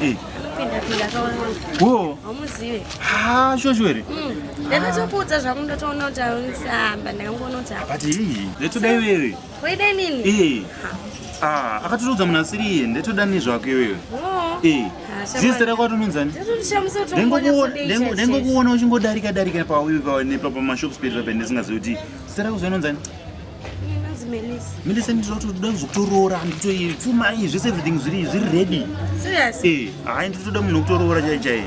Eh. Hamuzive. Ha, shosho here? Mm. Ndakatokuudza zvangu ndatoona kuti aunisamba ndakangoona kuti apa. But hii, ndatoda iwewe. Waida nini? Eh. Ah, akatoudza munhu asiri iye, ndatoda nezvako iwewe. Oh. Eh. Zita rako atononzani? Ndengokuona uchingodarika darika pauyu panepa pamashops pedu pape ndisingazivi kuti zita rako zvinonzani? Melissa ndinotoda kuzotoroora handitoi pfuma iyi zvese everything zviri zviri ready serious eh hayi ndinotoda munhu wekutoroora chai chai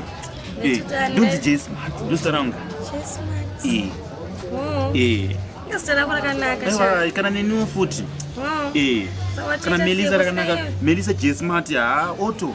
eh ndonzi Jay Smart ndosita rangu Jay Smart eh oh. eh ndosita rangu rakanaka aiwa kana neniwo futi oh. eh kana Melissa rakanaka Melissa Jay Smart ha ah, auto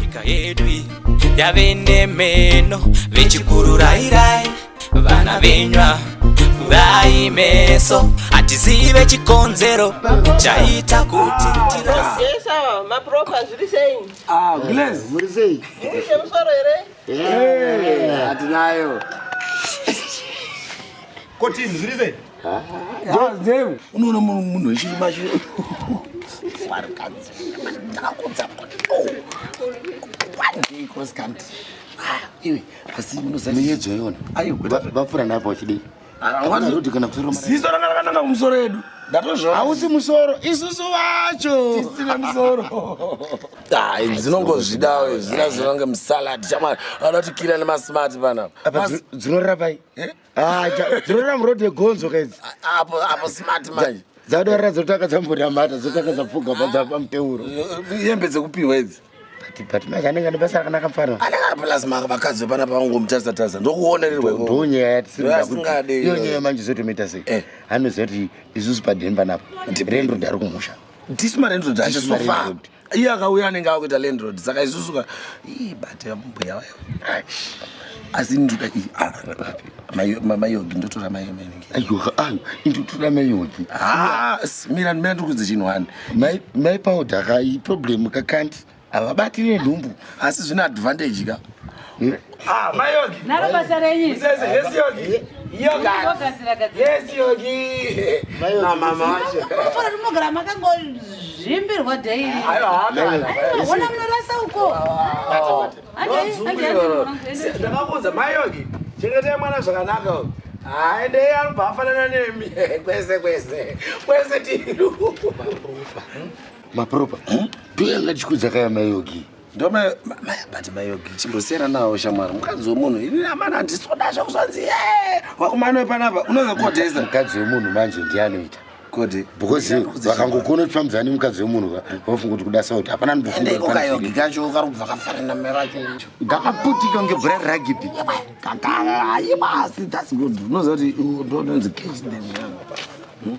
nyika yedu iyi yave nemeno vechikururairai vana venywa kurai meso hatizive chikonzero chaita kuti tira- Yes, awa mapropa zviri sei? Ah, Glaze. Muri sei? Muri chemusoro here? Eh, Hatinayo. Kotini zviri sei? unoona munhu wechirima chi vapfura napo vachidei kuti kana ziso ranga rakananga kumusoro edu ndatozvona hausi musoro isusu vacho tisina musoro dai dzinongozvidawo izvina zvinonge musalad chamwari vanotikira nemasmart panapa dzinorapa Ah, dzirora muroad yegonzo kaidzi apo apo smart manje dzadorera dzotanga dzambonamata dzotanga dzapfuga padzapa muteuro yembe dzekupiwa idzi but manje anenge ane basa rakanaka mfana anenge plus maka vakadzi vepana pavangomutasa tasa ndokuonererweko ndonyaya yatisingade iyo nyaya manje zotomuita sei eh. anoziva kuti isusu padhemba napo rendo dari kumusha ndisi marendrod acho sofa iye akauya anenge akuita landrod saka isusuka ibate mbuya vayo asi ndoda mayogi ndotora mayogindotora mayogi mira mira ndikuudza chinhu wani mai paudaka iproblem kakanti havabatire nhumbu asi zvine advantage ka hmm? ah, mayogi naro basa renyu yes yogi rinogara makangozvimbirwa daiona munorasa uko ndakakuudza mayogi chengetai mwana zvakanaka aendei anobva afanana nemi kwese kwese kwese tiru mapropa eh? ndoyanga chikudza kaya mayogi ndoma but mayogi chimbosiyana nawo shamwari mukadzi wemunhu ini amana handisoda zvakuzvanzi ye eh, wakumana wepanapa unonge kodhesa mukadzi wemunhu manje ndiye anoita kodi because vakangokona kuti famudzana nemukadzi wemunhu vafunga kuti kuda sauti hapana ndikayogi kacho karubva kafanana meracho ndakaputika kunge bhura reragibi kakaaibasi that's good unoziva kuti ndononzi case then hmm?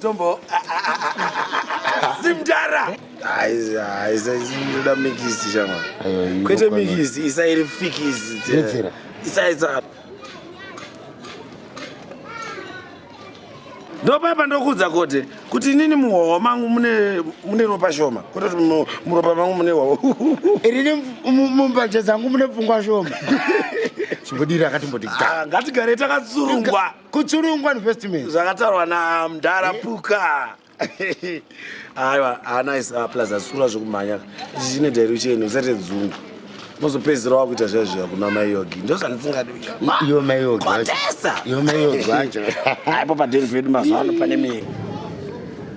Tombo. Simdara. Aiza, aiza, inoda mikisi shama. Kwete mikisi, isa iri fikisi. Yetsera. Isa isa. ndopapa ndokudza kote kuti inini muhwawa mangu mune ropa shoma kote kuti muropa mangu mune hwawa irini mumbanje dzangu mune pfungwa shoma chimbodiri akatimboti ah, ngatigare takatsurungwa kutsurungwa investment zvakataurwa namdhara eh? puka aiwa anice ah, plus asura zvekumhanya zvichine direction usate dzungu mozopedzisira wakuita zviya zviya kuna mai yogi ndo zvandisingadiiwo mai yogiotesa iwo mai yogi wacho aipo padeni pedu mazuva ano pane miri